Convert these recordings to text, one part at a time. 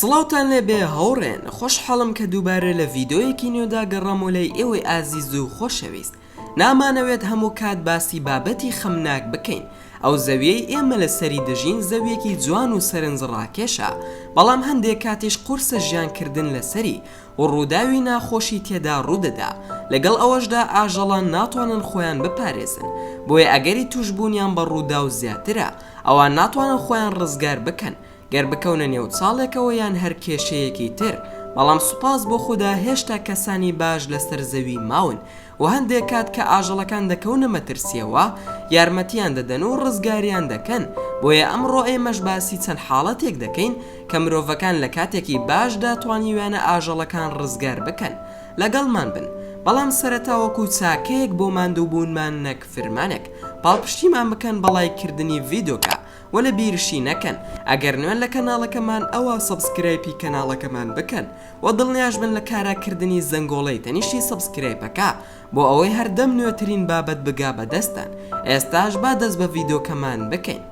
سڵاوتان لێبێ هاوڕێن خۆشحاڵم کە دووبارە لە ڤیددیویەکی نوێدا گەڕامۆ لای ئێوەی ئازیز و خۆشەویست نامانەوێت هەموو کات باسی بابەتی خەمناک بکەین ئەو زەویەی ئێمە لە سەری دەژین زەویەکی جوان و سەرنج ڕاکێشە بەڵام هەندێک کاتیش قورسە ژیانکردن لەسەری و ڕووداوی ناخۆشی تێدا ڕوودەدا، لەگەڵ ئەوەشدا ئاژەڵان ناتوانن خۆیان بپارێزن، بۆیە ئەگەری تووشبوونیان بە ڕووداو زیاترە، ئەوان ناتوانن خۆیان ڕزگار بکەن گەر بکەونە نێو چاڵێکەوە یان هەر کێشەیەکی تر، بەڵام سوپاس بۆ خودا هێشتا کەسانی باش لەسەر زەوی ماون، و هەندێک کات کە ئاژەڵەکان دەکەونە مەترسییەوە یارمەتییان دەدەن و ڕزگاریان دەکەن، بۆیە ئەمڕۆ ئێمەش باسی چەند حاڵەتێک دەکەین کە مرۆڤەکان لە کاتێکی باشدا توانیویانە ئاژەڵەکان ڕزگار بکەن. لەگەڵمان بن، بەڵام سەرەتا وەکو چاکەیەک بۆ ماندووبوونمان نەک فرمانێک، پاڵپشتیمان بکەن بە ڵایککردنی ڤیدۆکە، وەلە بیرشی نەکەن ئەگەر نوێن لە کەناڵەکەمان ئەوا سەبسکرایپی کەناڵەکەمان بکەن وە دڵنیاشبن لە کارا کردنی زەنگۆڵەی تەنیشتی سەبسکرایپەکە بۆ ئەوەی هەردەم نوێترین بابەت بگا بە دەستتان ئێستاش با دەست بە ڤیدۆکەمان بکەین.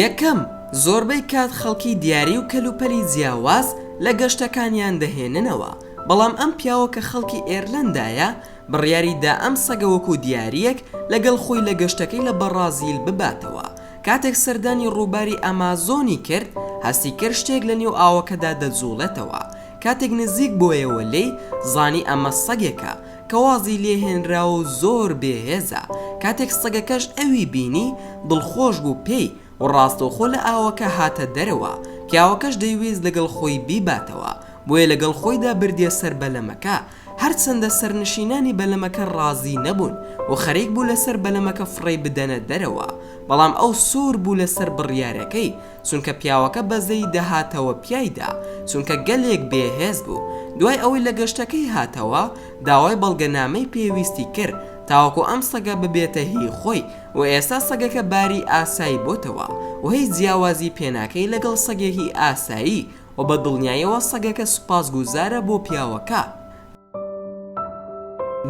یەکەم، زۆربەی کات خەڵکی دیاری و کەلوپەلی جیاواز لە گەشتەکانیان دەهێننەوە، بەڵام ئەم پیاوە کە خەڵکی ئێرلەندایە، بڕیاری دا ئەم سەگە وەکوو دیارییەک لەگەڵ خۆی لە گەشتەکەی لە بەڕازیل بباتەوە. کاتێک سەردانی ڕووباری ئەمازۆنی کرد، هەستی کرد شتێک لە نێو ئاوەکەدا دەجووڵێتەوە. کاتێک نزیک بۆیەوە لێی، زانی ئەمە سەگێکە کە وازی لێ هێنراوە و زۆر بێ هێزە، کاتێک سەگەکەش ئەوی بینی دڵخۆش بوو پێی و ڕاستەوخۆ لە ئاوەکە هاتە دەرەوە، پیاوەکەش دەیویست لەگەڵ خۆی بیباتەوە، بۆیە لەگەڵ خۆیدا بردیە سەر بەلەمەکە، هەرچەندە سەرنشینانی بەلەمەکە ڕازی نەبوون و خەریک بوو لەسەر بەلەمەکە فڕێی بدەنە دەرەوە، بەڵام ئەو سوور بوو لەسەر بڕیارەکەی، چونکە پیاوەکە بەزەیی دەهاتەوە پیایدا، چونکە گەلێک بێ هێز بوو، دوای ئەوەی لە گەشتەکەی هاتەوە داوای بەڵگەنامەی پێویستی کرد تاوەکو ئەم سەگە ببێتە هی خۆی و ئێستا سەگەکە باری ئاسایی بۆتەوە و هیچ جیاوازی پێناکەی لەگەڵ سەگێکی ئاسایی و بە دڵنیایەوە سەگەکە سوپاسگوزارە بۆ پیاوەکە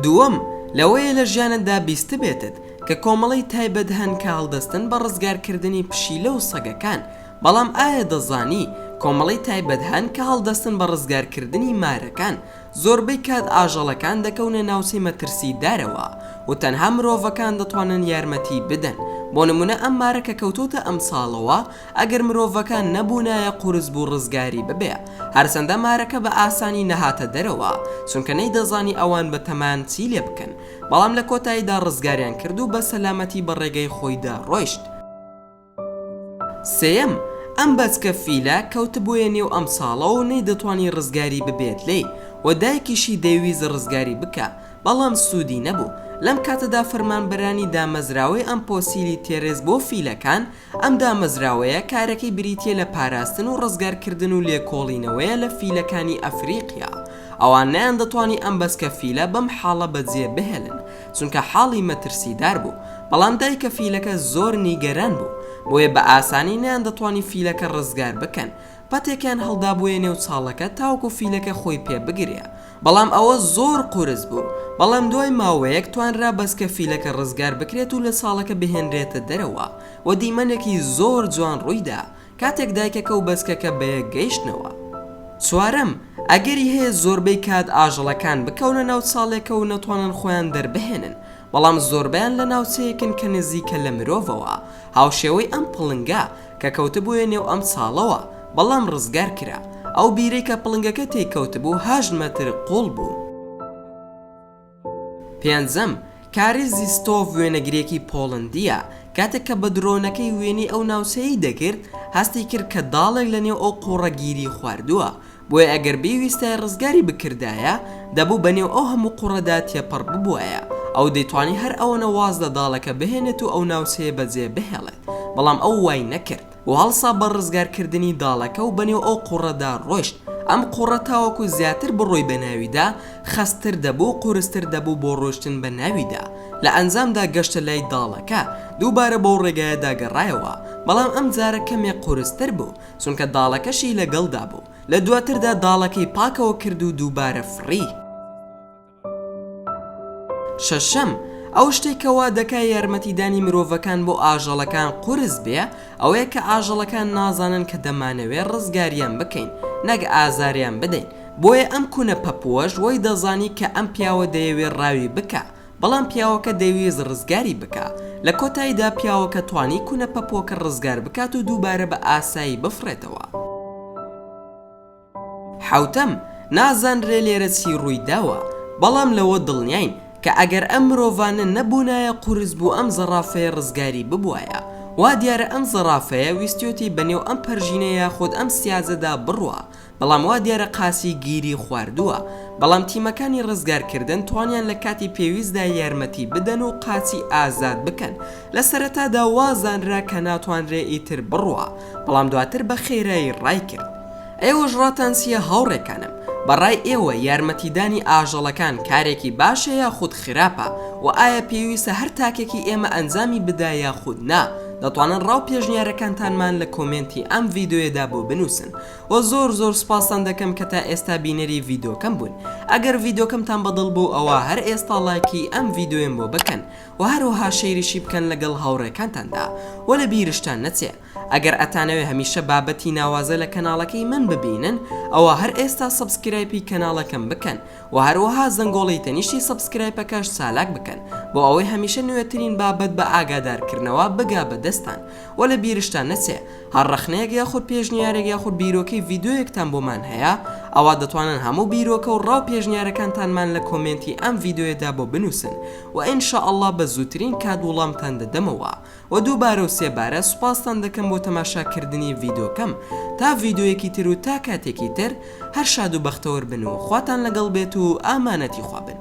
دووەم، لەوەیە لە ژیانتدا بیستبێتت کە کۆمەڵەی تایبەت هەن کە هەڵدەستن بە ڕزگارکردنی پشیلە و سەگەکان، بەڵام ئایا دەزانی کۆمەڵەی تایبەت هەن کە هەڵدەستن بە ڕزگارکردنی مارەکان، زۆربەی کات ئاژەڵەکان دەکەونە ناوچەی مەترسیدارەوە و تەنها مرۆڤەکان دەتوانن یارمەتی بدەن، بۆ نمونە ئەم مارە کە کەوتۆتە ئەمساڵەوە، ئەگەر مرۆڤەکان نەبوونایە قورس بوو ڕزگاری ببێ، هەرچەندە مارەکە بە ئاسانی نەهاتە دەرەوە، چونکە نەیدەزانی ئەوان بە تەمان چی لێ بکەن، بەڵام لە کۆتاییدا ڕزگاریان کرد و بە سەلامەتی بە ڕێگەی خۆیدا ڕۆیشت. سێیەم، ئەم بەچکە فیلە کەوتبوویە نێو ئەم چاڵە و نەیدەتوانی ڕزگاری ببێت لێی و دایکیشی دەیویست ڕزگاری بکا، بەڵام سوودی نەبوو، لەم کاتەدا فەرمانبەرانی دامەزراوەی ئەم پۆسیلی تێرێس بۆ فیلەکان، ئەم دامەزراوەیە کارەکەی بریتییە لە پاراستن و ڕزگارکردن و لێکۆڵینەوەیە لە فیلەکانی ئەفریقیا، ئەوان نەیاندەتوانی ئەم بەچکە فیلە بەم حاڵە بەجێ بهێلن، چونکە حاڵی مەترسیدار بوو، بەڵام دایکە فیلەکە زۆر نیگەران بوو، بۆیە بە ئاسانی نەیاندەتوانی فیلەکە ڕزگار بکەن، پەتێکیان هەڵدابوویە نێو چاڵەکە تاوەکو فیلەکە خۆی پێ بگرێ بەڵام ئەوە زۆر قورس بوو بەڵام دوای ماوەیەک توانرا بەسکە فیلەکە ڕزگار بکرێت و لە چاڵەکە بهێنرێتە دەرەوە و دیمەنێکی زۆر جوان ڕوویدا کاتێک دایکەکە و بەسکەکە بەیەک گەیشتنەوە چوارەم، ئەگەری هەیە زۆربەی کات ئاژەڵەکان بکەونە ناو چاڵێکە و نەتوانن خۆیان دەربهێنن، بەڵام زۆربەیان لە ناوچەیەکن کە نزیکە لە مرۆڤەوە، هاوشێوەی ئەم پڵنگە کە کەوتبوویە نێو ئەم چاڵەوە، بەڵام ڕزگار کرا. ئەو بیرەی کە پڵنگەکە تێی کەوتبوو هەشت مەتر قووڵ بوو. پێنجەم، کاری زیستۆڤ وێنەگرێکی پۆڵەندییە، کاتێک کە بە درۆنەکەی وێنەی ئەو ناوچەیەی دەگرت، هەستی کرد کە داڵێک لە نێو ئەو قووڕە گیری خواردووە، بۆیە ئەگەر بیویستایە ڕزگاری بکردایە، دەبوو بەنێو ئەو هەموو قوڕەدا تێپەڕ ببوایە، ئەو دەیتوانی هەر ئەوەنە واز لە داڵەکە بهێنێت و ئەو ناوچەیە بەجێ بهێڵێت، بەڵام ئەو وای نەکرد و هەڵسا بە ڕزگارکردنی داڵەکە و بەنێو ئەو قوڕەدا ڕۆیشت، ئەم قوڕە تاوەکو زیاتر بڕۆی بەناویدا، خەستتر دەبوو و قورستر دەبوو بۆ ڕۆیشتن بە ناویدا، لە ئەنجامدا گەشتە لای داڵەکە، دووبارە بەو ڕێگایەدا گەڕایەوە، بەڵام ئەمجارە کەمێک قورستر بوو، چونکە داڵەکەشی لەگەڵدا بوو، لە دواتردا داڵەکەی پاکەوە کرد و دووبارە فڕی. شەشەم، ئەو شتەی کە وا دەکا یارمەتیدانی مرۆڤەکان بۆ ئاژەڵەکان قورس بێ ئەوەیە کە ئاژەڵەکان نازانن کە دەمانەوێ ڕزگاریان بکەین نەک ئازاریان بدەین، بۆیە ئەم کونە پەپووەش وەی دەزانی کە ئەم پیاوە دەیەوێ ڕاوی بکا بەڵام پیاوەکە دەیویست ڕزگاری بکا، لە کۆتاییدا پیاوەکە توانی کونە پەپۆکە ڕزگار بکات و دووبارە بە ئاسایی بفڕێتەوە. حەوتەم، نازانرێ لێرە چی ڕووی داوە، بەڵام لەوە دڵنیاین کە ئەگەر ئەم مرۆڤانە نەبوونایە قورس بوو ئەم زەڕافەیە ڕزگاری ببوایە، وا دیارە ئەم زەڕافەیە ویستیۆتی بە نێو ئەم پەرژینە یاخود ئەم سیاجەدا بڕوا، بەڵام وا دیارە قاسی گیری خواردووە، بەڵام تیمەکانی ڕزگارکردن توانیان لە کاتی پێویستدا یارمەتی بدەن و قاسی ئازاد بکەن، لە سەرەتادا وا زانرا کە ناتوانرێ ئیتر بڕوا، بەڵام دواتر بە خێرایی ڕای کرد. ئێوەش ڕاتان چییە هاوڕێکانم، بە ڕای ئێوە یارمەتیدانی ئاژەڵەکان کارێکی باشە یاخود خراپە و ئایا پێویستە هەر تاکێکی ئێمە ئەنجامی بدا یاخود نا، دەتوانن ڕا و پێشنیارەکانتانمان لە کۆمێنتی ئەم ڤیدیۆیەدا بۆ بنووسن. وە زۆر زۆر سوپاستان دەکەم کە تا ئێستا بینەری ڤیدۆکەم بوون ئەگەر ڤیدۆکەمتان بەدڵ بوو ئەوا هەر ئێستا ڵایکی ئەم ڤیدۆیەم بۆ بکەن وە هەروەها شەیریشی بکەن لەگەڵ هاوڕێکانتاندا وە لە بیرشتان نەچێ ئەگەر ئەتانەوێ هەمیشە بابەتی ناوازە لە کەناڵەکەی من ببینن ئەوا هەر ئێستا سەبسکرایپی کەناڵەکەم بکەن وە هەروەها زەنگۆڵی تەنیشتی سەبسکرایپەکەش چالاک بکەن بۆ ئەوەی هەمیشە نوێترین بابەت بە ئاگادار کردنەوە بگا بە دەستان وە لە بیرشتان نەچێ هەر ڕەخنەیەک یاخود پێشنیارێک یاخود بیرۆکەی ڤیدۆیەکتان بۆمان هەیە ئەوا دەتوانن هەموو بیرۆکە و ڕاو پێشنیارەکانتانمان لە کۆمێنتی ئەم ڤیدۆیەدا بۆ بنوسن وە ان شاء اللە بە زووترین کات وڵامتان دەدەمەوە وە دووبارە و سێ بارە سوپاستان دەکەم بۆ تەماشا کردنی ڤیدۆکەم تا ڤیدۆیەکی تر و تا کاتێکی تر هەر شاد و بەختەوەر بن و خواتان لەگەڵ بێت و ئامانەتی خوا بن.